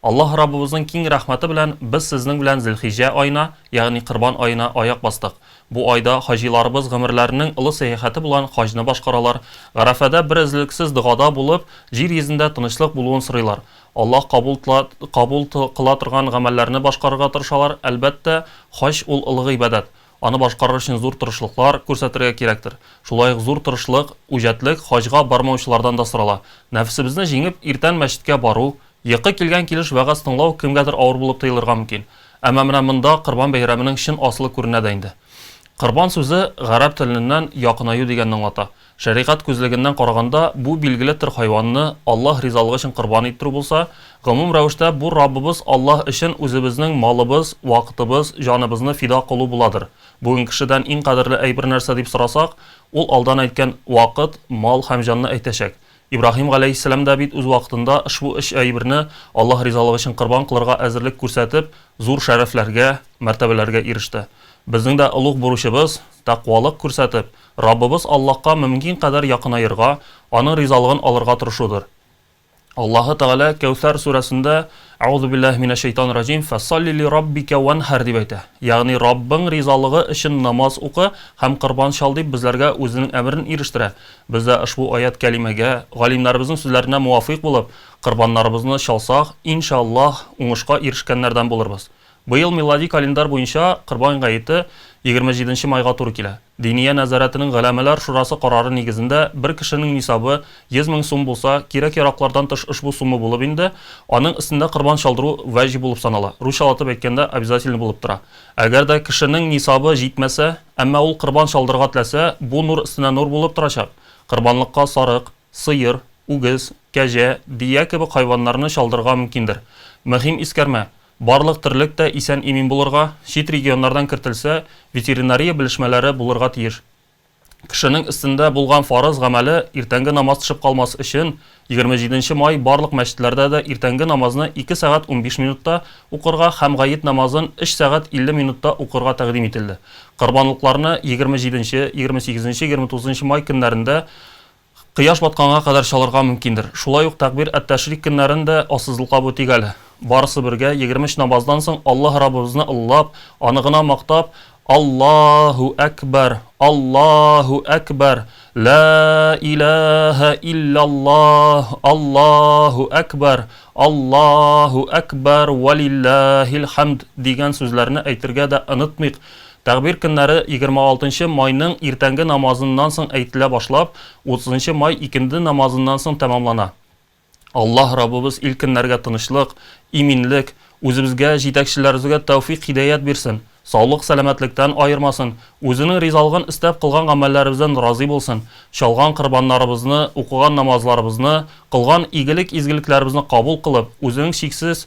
Аллаһ Раббыбызның киң рәхмәте белән без сезнең белән Зелхиҗҗә аена, ягъни Корбан аена аяк бастык. Бу айда хаҗиларыбыз гомерләренең олы сәяхәте булган хаҗны башкаралар, Гарәфәдә берөзлексез догада булып, җир йөзендә тынычлык булуын сорыйлар. Аллаһ кабул тла кабул тл кыла торган гамәлләрне башкарырга тырышалар, әлбәттә, хаҗ ул олы гыйбадәт, аны башкарыр өчен зур тырышлыклар күрсәтергә кирәктер. Шулай ук зур тырышлык, үҗәтлек хаҗга бармаучылардан да сорала. Нәфесебезне җиңеп, иртән мәчеткә бару, Йокы килгән килеш вәгазь тыңлау кемгәдер авыр булып тоелырга мөмкин. Әмма менә монда Корбан бәйрәменең чын асылы күренә дә инде. Корбан сүзе гарәп телененнән якынаю дигәнне аңлата. Шәригать күзлегеннән караганда, бу билгеле төр хайванны Аллаһ ризалыгы өчен корбан иттерү булса, гомум рәвештә бу Раббыбыз Аллаһ өчен үзебезнең малыбыз, вакытыбыз, җаныбызны фида кылу буладыр. Бүген кешедән иң кадерле әйбер нәрсә дип сорасак, ул алдан әйткән вакыт, мал һәм җанны әйтәчәк. Ибраһим галәйһиссәлам да бит үз вакытында ошбу өч әйберне Аллаһ ризалыгы өчен корбан кылырга әзерлек күрсәтеп, зур шәрәфләргә, мәртәбәләргә иреште. Безнең дә олуг бурычыбыз, тәкъвалык күрсәтеп, Раббыбыз Аллаһка мөмкин кадәр якынаерга, Аның ризалыгын алырга тырышудыр. Аллаһы Тәгалә Кәүсәр сүрәсендә, Әгъузу биллаһи минәш-шәйтанир раҗим, Фәсалли ли раббика ванһар дип әйтә. Ягъни Раббың ризалыгы өчен намаз укы һәм корбан чал дип безләргә Үзенең әмерен ирештерә. Без дә ошбу аять-кәлимәгә, галимнәребезнең сүзләренә муафыйк булып, корбаннарыбызны чалсак, ин шә Аллаһ, уңышка ирешкәннәрдән булырбыз. Быел милади календарь буенча Корбан гаете егерме җиденче майга туры килә. Диния нәзарәтенең Голәмәләр шурасы карары нигезендә бер кешенең нисабы йөз мең сум булса, кирәк-яраклардан тыш ошбу сумма булып инде, аның өстендә корбан чалдыру вәҗиб булып санала, русчалатып әйткәндә обязательный булып тора. Әгәр дә кешенең нисабы җитмәсә, әмма ул корбан чалдырырга теләсә, бу нур өстенә нур булып торачак. Корбанлыкка сарык, сыер, үгез, кәҗә, бия кебек хайваннарны чалдырырга мөмкиндер. Мөһим искәрмә, барлык терлек тә исән-имин булырга, чит регионнардан кертелсә, ветеринария белешмәләре булырга тиеш. Кешенең өстендә булган фарыз гамәле иртәнге намаз төшеп калмас өчен, егерме җиденче май барлык мәчетләрдә дә иртәнге намазны ике сәгать унбиш минутта укырга һәм гает намазын өч сәгать илле минутта укырга тәкъдим ителде. Корбанлыкларны егерме җиденче, егерме сигезенче, егерме тугызынчы май көннәрендә Кояш батканга кадәр чалырга мөмкиндер. Шулай ук Тәкъбир әт-Тәшрик көннәрен дә ассызыклабу төгәл. Барысы бергә, егерме өч намаздан соң Аллаһ Раббыбызны олылап, Аны гына мактап, Аллаһу әкбәр, Аллаһу әкбәр, Лә иләһә илляллаһ, Аллаһу әкбәр, Аллаһу әкбәр, вәлилләһил хәмд, дигән сүзләрне әйтергә дә онытмыйк. Тәгъбир көннәре егерме алтынчы майның иртәнге намазыннан соң әйтелә башлап, утызынчы май икенде намазыннан соң тәмамлана. Аллаһ Раббыбыз ил-көннәргә тынычлык, иминлек, үзебезгә, җитәкчеләребезгә тәүфыйк-һидәят бирсен, саулык-сәламәтлектән аермасын, Үзенең ризалыгын эстәп кылган гамәлләребездән разый булсын, чалган корбаннарыбызны, укыган намазларыбызны, кылган игелек-изгелекләребезне кабул кылып, Үзенең чиксез